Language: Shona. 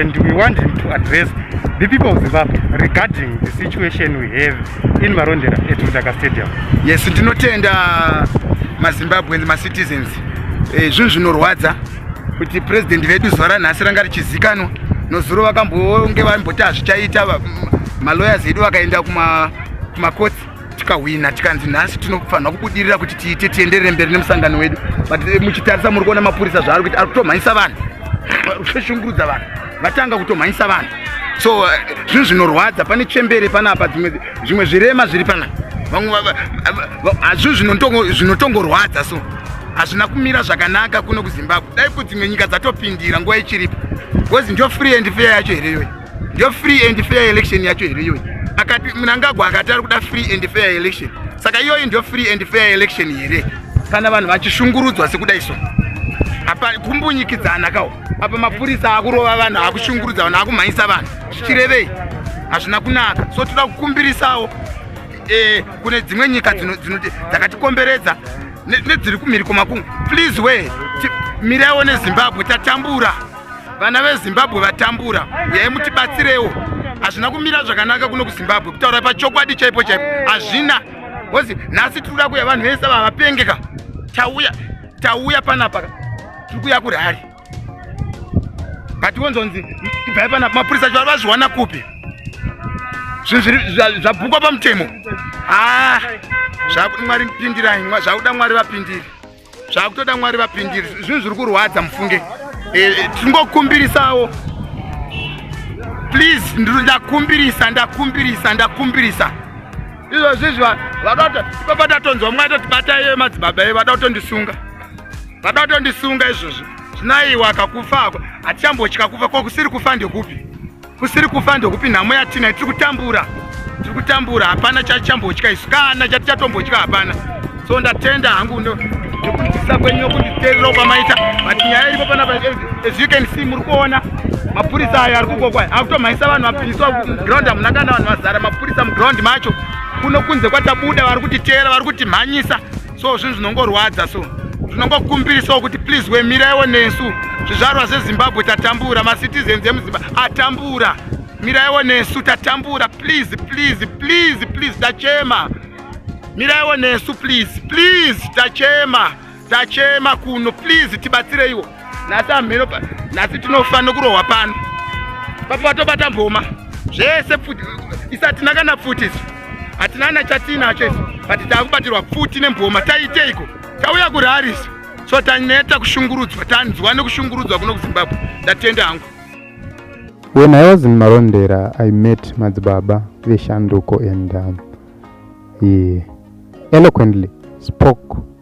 and we want him to address the people of zimbabwe regarding the situation we have in marondera at mudaka stadium yes ndinotenda mazimbabweans macitizens eh, zvinhu zvinorwadza kuti president vedu zuva ranhasi ranga richizikanwa nozuro vakambonge vaimboti hazvichaita maloyers edu vakaenda kumakotsi tikahwina tikanzi nhasi tinofanirwa kubudirira kuti tiite tienderere mberi nemusangano wedu but eh, muchitarisa muri kuona mapurisa zvaari kuita ari kutomhanyisa vanhu kushungurudza vanhu vatanga kutomhanyisa vanhu so eh, zvinhu zvinorwadza pane chembere panapa zvimwe zvirema zviri pana vamwe hazvio zvinotongorwadza so hazvina kumira zvakanaka kuno kuzimbabwe dai kudzimwe nyika dzatopindira nguva ichiripo bcause ndio free and fair yacho here iyoyi Ndiyo free and fair election yacho here iyoyi? Akati Mnangagwa akati ari kuda free and fair election. Saka iyoyi ndiyo free and fair election here? Kana vanhu vachishungurudzwa sekuda iso. Apa kumbunyikidzana kawo. Apa mapurisa akurova vanhu, akushungurudza vanhu, akumhanyisa vanhu. Zvichirevei? Hazvina kunaka. So toda kukumbirisawo eh kune dzimwe nyika dzino dzino dzakatikomberedza nedziri kumhiri kwemakungwa. Please we miraiwo neZimbabwe tatambura. vana vezimbabwe vatambura uyai mutibatsirewo hazvina kumira zvakanaka kuno kuzimbabwe kutaura pachokwadi chaipo chaipo hazvina ozi nhasi tiri kuda kuya vanhu vese vavapengeka tauya tauya panapa tiri kuya kurhari but wonzonzi ibvai panapa mapurisa chivaro vazviwana kupi zvinhu zvabhukwa pamutemo haa ah, zvakuti mwari pindirai zvakuda mwari vapindiri zvakutoda mwari vapindire zvinhu zviri kurwadza mufunge eh, eh, tingokumbirisawo please ndakumbirisa ndakumbirisa ndakumbirisa izvozvi izvi vakato ipapa tatonzwa mwa totibata iye madzibaba iye vada kutondisunga vada kutondisunga izvozvi zvinaiwa akakufa ako hatichambotya kufa ko kusiri kufa ndekupi kusiri kufa ndokupi nhamo yatinai tiri kutambura tiri kutambura hapana chachambotya isu kana chati chatombotya hapana so ndatenda hangu ndokunzisa kwenyu nokunditeerera kwamaita but nyaya iripo panapa as you can see muri kuona mapurisa ayo ari kukokwa akutomhaisa vanhu vapiriswa muground hamuna kana vanhu vazara mapurisa muground macho kuno kunze kwatabuda vari kutiteera vari kutimhanyisa so zvinhu zvinongorwadza so zvinongokumbirisawo kuti please wemiraiwo nesu zvizvarwa zvezimbabwe tatambura macitizens emuzimba atambura miraiwo nesu tatambura please please please please tachema miraiwo nesu please please tachema tachema kuno please tibatsireiwo nhasi amheno nhasi tinofanira kurohwa pano papabatobata mboma zvese pfuti isi hatina kana pfuti isu hatina kana chatiinacho isu but taakubatirwa pfuti nemboma taiteiko tauya kurari isu so taneta kushungurudzwa tanzwa nekushungurudzwa kuno kuzimbabwe ndatenda hangu when i was in marondera i met madzibaba veshanduko and um, he eloquently spoke